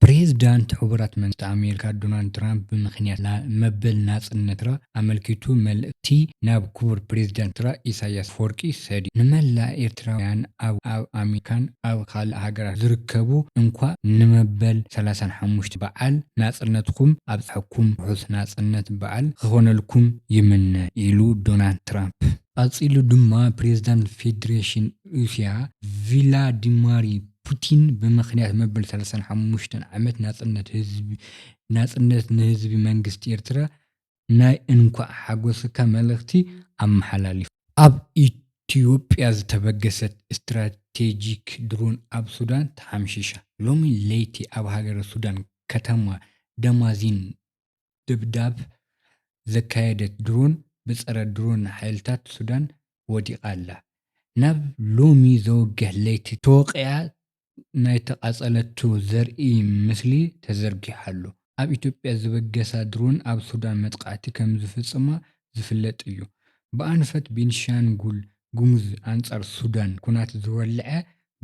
ፕሬዝዳንት ሕቡራት መንግስታት ኣሜሪካ ዶናልድ ትራምፕ ብምኽንያት መበል ናጽነት ኤርትራ ኣመልኪቱ መልእኽቲ ናብ ክቡር ፕሬዝዳንት ኤርትራ ኢሳይያስ ኣፈወርቂ ሰዲዱ። ንመላእ ኤርትራውያን ኣብ ኣብ ኣሜሪካን ኣብ ካልእ ሃገራትን ዝርከቡ እንኳእ ንመበል ሰላሳን ሓሙሽተን በዓል ናጽነትኩም ኣብጸሐኩም ርሑስ ናጽነት በዓል ኽኾነልኩም ይምነ ኢሉ ዶናልድ ትራምፕ። ቐጺሉ ድማ ፕሬዝዳንት ፌዴሬሽን ሩስያ ቪላዲማሪ ፑቲን ብምኽንያት መበል ሰላሳን ሓሙሽተን ዓመት ናጽነት ንህዝቢ መንግስቲ ኤርትራ ናይ እንኳዕ ሓጎሰካ መልእኽቲ ኣመሓላሊፉ። ኣብ ኢትዮጵያ ዝተበገሰት ስትራቴጂክ ድሮን ኣብ ሱዳን ተሓምሺሻ። ሎሚ ለይቲ ኣብ ሃገረ ሱዳን ከተማ ደማዚን ደብዳብ ዘካየደት ድሮን ብጸረ ድሮን ሓይልታት ሱዳን ወዲቓ ኣላ። ናብ ሎሚ ዘወግሕ ለይቲ ተወቒዓ ናይ ተቓጸለቶ ዘርኢ ምስሊ ተዘርጊሑ ኣሎ። ኣብ ኢትዮጵያ ዝበገሳ ድሮን ኣብ ሱዳን መጥቓዕቲ ከምዝፍጽማ ዝፍለጥ እዩ። ብኣንፈት ቤንሻንጉል ጉሙዝ ኣንጻር ሱዳን ኩናት ዝወልዐ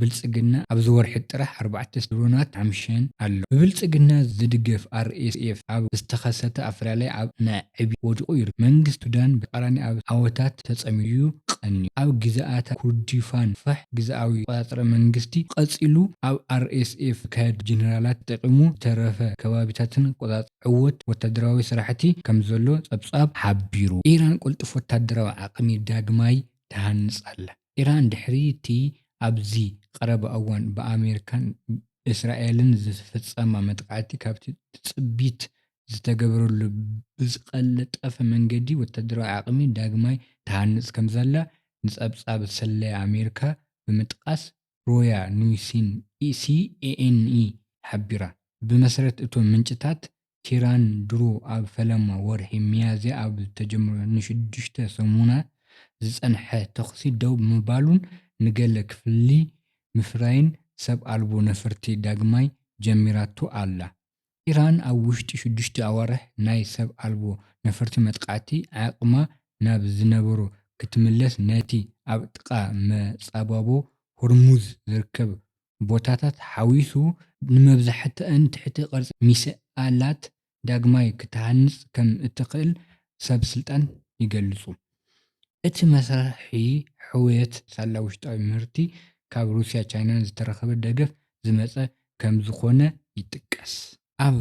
ብልጽግና ኣብዚ ወርሒ ጥራሕ ኣርባዕተ ድሮናት ሓምሺሸን ኣሎ። ብብልጽግና ዝድገፍ RSF ኣብ ዝተኸሰተ ኣፈላላይ ኣብ ናይ ዕብየት ወዲቑ ይርከብ። መንግስቲ ሱዳን ብተቓራኒ ኣብ ዓወታት ተጸሚዱ'ዩ ቀንዩ። ኣብ ግዝኣታት ኩርዲፋን ፋሕ ግዝኣዊ ዝተቖጻጸረ መንግስቲ ቀጺሉ ኣብ RSF ዝካየድ ብጀነራላት ተጠቒሙ ዝተረፈ ከባቢታትን ክቆጻጸር ዕዉት ወታደራዊ ስራሕቲ ከምዘሎ ጸብጻብ ሓቢሩ። ኢራን ቅልጡፍ ወታደራዊ ዓቕሚ ዳግማይ ትሃንጽ ኣላ። ኢራን ድሕሪ'ቲ ኣብዚ ቀረባ እዋን ብኣመሪካን እስራኤልን ዝፈጸማ መጥቃዕቲ ካብቲ ትጽቢት ዝተገብረሉ ብዝቐልጠፈ መንገዲ ወተሃደራዊ ዓቕሚ ዳግማይ ትሃንጽ ከምዘላ ንጸብጻብ ስለያ ኣመሪካ ብምጥቃስ ሮያ ኑይስን ሲኤንኢ ሓቢራ። ብመሰረት እቶም ምንጭታት ቲራን ድሮ ኣብ ፈለማ ወርሒ ሚያዝያ ኣብ ዝተጀመሮ ንሽዱሽተ ሰሙናት ዝጸንሐ ተዅሲ ደው ብምባሉን ንገለ ክፍሊ ምፍራይን ሰብ ኣልቦ ነፈርቲ ዳግማይ ጀሚራቶ ኣላ። ኢራን ኣብ ውሽጢ ሽዱሽተ ኣዋርሕ ናይ ሰብ ኣልቦ ነፈርቲ መጥቃዕቲ ዓቕማ ናብ ዝነበሮ ክትምለስ ነቲ ኣብ ጥቓ መጻብቦ ሆርሙዝ ዝርከብ ቦታታት ሓዊሱ ንመብዛሕትኣን ትሕቲ ቅርጺ ሚሳላት ዳግማይ ክትሃንጽ ከም እትኽእል ሰብ ስልጣን ይገልጹ። እቲ መስርሒ ሕውየት ሳላ ውሽጣዊ ምህርቲ ካብ ሩስያን ቻይናን ዝተረኽበ ደገፍ ዝመጸ ከም ዝኾነ ይጥቀስ። ኣብ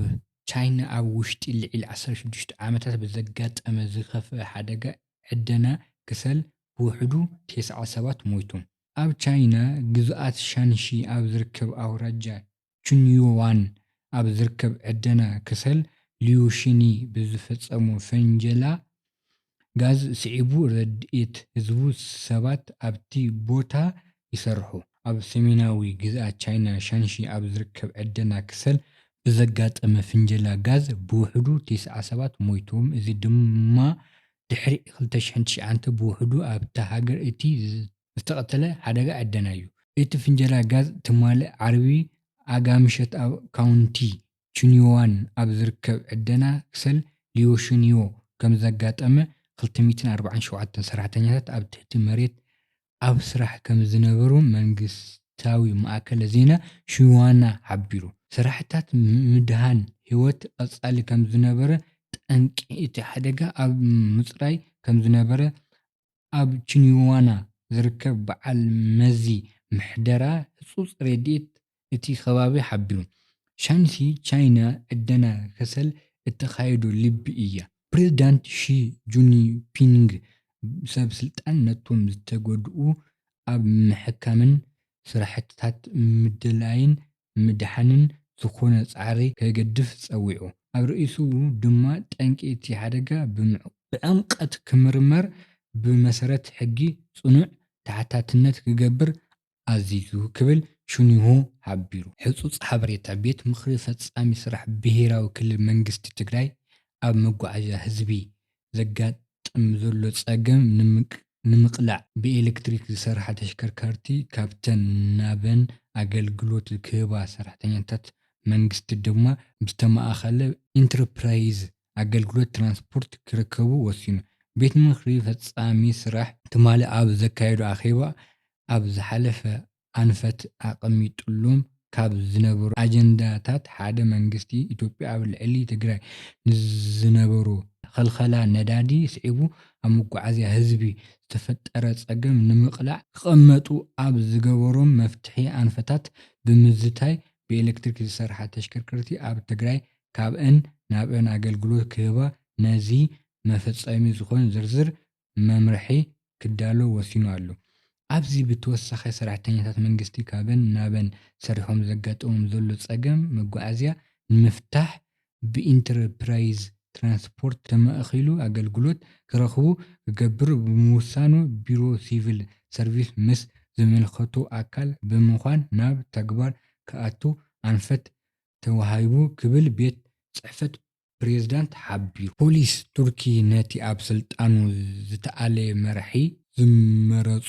ቻይና ኣብ ውሽጢ ልዒሊ ዓሰርተ ሽዱሽተ ዓመታት ብዘጋጠመ ዝኸፍኣ ሓደጋ ዕደና ከሰል ብውሕዱ ተስዓ ሰባት ሞይቶም። ኣብ ቻይና ግዝኣት ሻንሺ ኣብ ዝርከብ ኣውራጃ ቹንዩዋን ኣብ ዝርከብ ዕደና ከሰል ሊዩሺኒ ብዝፈጸሞ ፈንጀላ ጋዝ ስዒቡ ረድኤት ህዝቡ ሰባት ኣብቲ ቦታ ይሰርሑ። ኣብ ሰሜናዊ ግዝኣት ቻይና ሻንሺ ኣብ ዝርከብ ዕደና ከሰል ብዘጋጠመ ፍንጀላ ጋዝ ብውሕዱ ተስዓ ሰባት ሞይቶም እዚ ድማ ድሕሪ ክልተ ሽሕን ትሽዓንተ ብውሕዱ ኣብታ ሃገር እቲ ዝተቐተለ ሓደጋ ዕደና እዩ። እቲ ፍንጀላ ጋዝ ትማሊ ዓርቢ ኣጋ ምሸት ኣብ ካውንቲ ቹንዮዋን ኣብ ዝርከብ ዕደና ክሰል ሊዮሹንዮ ከምዘጋጠመ፣ ክልተ ሚእትን ኣርባዓን ሸውዓተን ሰራሕተኛታት ኣብ ትሕቲ መሬት ኣብ ስራሕ ከምዝነበሩ መንግስታዊ ማእከለ ዜና ሽዋና ሓቢሩ። ስራሕታት ምድሃን ህይወት ቀጻሊ ከምዝነበረ፣ ጠንቂ እቲ ሓደጋ ኣብ ምጽራይ ከምዝነበረ ኣብ ቺንዋና ዝርከብ በዓል መዚ ምሕደራ ህጹጽ ረድኤት እቲ ከባቢ ሓቢሩ። ሻንሲ ቻይና ዕደና ከሰል እተካይዶ ልቢ እያ። ፕሬዝዳንት ሺ ጁንፒንግ ሰብ ስልጣን ነቶም ዝተጎድኡ ኣብ ምሕካምን ስራሕትታት ምድላይን ምድሓንን ዝኾነ ፃዕሪ ከገድፍ ፀዊዑ። ኣብ ርእይትኡ ድማ ጠንቂ እቲ ሓደጋ ብዕምቀት ክምርመር ብመሰረት ሕጊ ፅኑዕ ተሓታትነት ክገብር ኣዚዙ ክብል ሽንሁ ሓቢሩ። ሕፁፅ ሓበሬታ ቤት ምኽሪ ፈፃሚ ስራሕ ብሄራዊ ክልል መንግስቲ ትግራይ ኣብ መጓዓዝያ ህዝቢ ዘጋጥም ዘሎ ፀገም ንምቅላዕ ብኤሌክትሪክ ዝሰርሓ ተሽከርካርቲ ካብተን ናበን ኣገልግሎት ክህባ ሰራሕተኛታት መንግስቲ ድማ ብዝተማእኸለ ኢንተርፕራይዝ ኣገልግሎት ትራንስፖርት ክርከቡ ወሲኑ። ቤት ምኽሪ ፈፃሚ ስራሕ ትማሊ ኣብ ዘካየዶ ኣኼባ ኣብ ዝሓለፈ ኣንፈት ኣቐሚጥሎም ካብ ዝነበሩ ኣጀንዳታት ሓደ መንግስቲ ኢትዮጵያ ኣብ ልዕሊ ትግራይ ንዝነበሮ ኽልኸላ ነዳዲ ስዒቡ ኣብ መጓዓዝያ ህዝቢ ዝተፈጠረ ፀገም ንምቕላዕ ክቐመጡ ኣብ ዝገበሮም መፍትሒ ኣንፈታት ብምዝታይ ብኤሌክትሪክ ዝሰርሓ ተሽከርከርቲ ኣብ ትግራይ ካብእን ናብእን ኣገልግሎት ክህባ ነዚ መፈፀሚ ዝኾን ዝርዝር መምርሒ ክዳሎ ወሲኑ ኣሎ። ኣብዚ ብተወሳኺ ሰራሕተኛታት መንግስቲ ካበን ናበን ሰሪሖም ዘጋጥሞም ዘሎ ፀገም መጓዓዝያ ንምፍታሕ ብኢንተርፕራይዝ ትራንስፖርት ተማእኺሉ ኣገልግሎት ክረኽቡ ክገብር ብምውሳኑ ቢሮ ሲቪል ሰርቪስ ምስ ዝምልከቶ ኣካል ብምዃን ናብ ተግባር ክኣቱ ኣንፈት ተዋሂቡ ክብል ቤት ፅሕፈት ፕሬዝዳንት ሓቢሩ። ፖሊስ ቱርኪ ነቲ ኣብ ስልጣኑ ዝተኣልየ መራሒ ዝመረጾ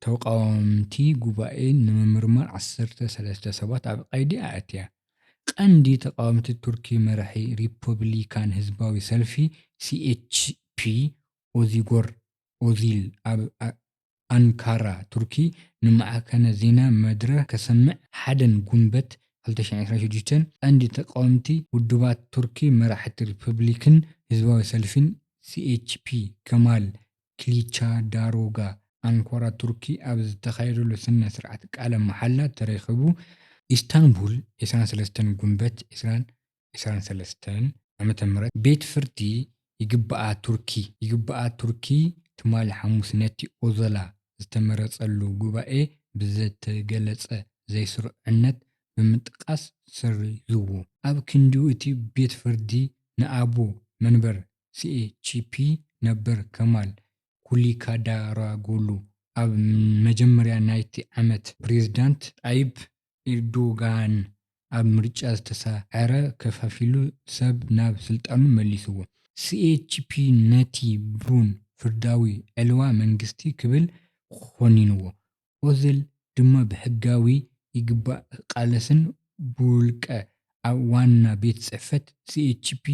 ተቓወምቲ ጉባኤ ንምምርማር ዓሰርተ ሰለስተ ሰባት ኣብ ቀይዲ ኣእትያ። ቀንዲ ተቓወምቲ ቱርኪ መራሒ ሪፐብሊካን ህዝባዊ ሰልፊ፣ ሲኤችፒ፣ ኦዚጎር ኦዚል ኣብ ኣንካራ ቱርኪ ንማዕከነ ዜና መድረህ ከሰምዕ ሓደን ጉንበት ክልተ ሽሕን ዕስራን ሽዱሽተን ቀንዲ ተቃወምቲ ውድባት ቱርኪ መራሕቲ ሪፐብሊክን ህዝባዊ ሰልፊን CHP ከማል ክሊቻዳሮጋ ኣንካራ ቱርኪ ኣብ ዝተኻየደሉ ስነ ስርዓት ቃለ መሓላ ተረኺቡ ኢስታንቡል ዕስራን ሰለስተን ጉንበት ዕስራን ዕስራን ሰለስተን ዓመተ ምህረት ቤት ፍርዲ ይግባኣ ቱርኪ ይግባኣ ቱርኪ ትማሊ ሓሙስ ነቲ ኦዞላ ዝተመረጸሉ ጉባኤ ብዘተገለጸ ዘይስሩዕነት ብምጥቃስ ሰሪዙዎ። ኣብ ክንዲኡ እቲ ቤት ፍርዲ ንኣቦ መንበር ሲኤችፒ ነበር ከማል ኩሊካዳራጎሉ ኣብ መጀመርያ ናይቲ ዓመት ፕሬዝዳንት ጣይብ ኢርዶጋን ኣብ ምርጫ ዝተሳዕረ ከፋፊሉ ሰብ ናብ ስልጣኑ መሊስዎ። ሲኤችፒ ነቲ ብሩን ፍርዳዊ ዕልዋ መንግስቲ ክብል ኾኒንዎ። ኦዝል ድማ ብሕጋዊ ይግባእ ክቃለስን ብውልቀ ኣብ ዋና ቤት ጽሕፈት ሲኤችፒ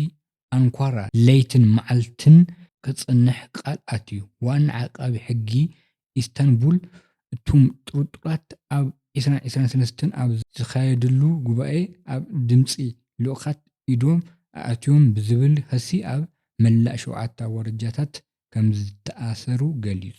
ኣንኳራ ለይትን መዓልትን ክጸንሕ ቃል ኣትዩ። ዋና ዓቃቢ ሕጊ ኢስታንቡል፣ እቶም ጥርጡራት ኣብ ዕስራን ዕስራን ሰለስተን ኣብ ዝካየድሉ ጉባኤ ኣብ ድምጺ ልኡኻት ኢዶም ኣእትዮም ብዝብል ኸሲ ኣብ መላእ ሸውዓተ ኣውራጃታት ከምዝተኣሰሩ ገሊጹ።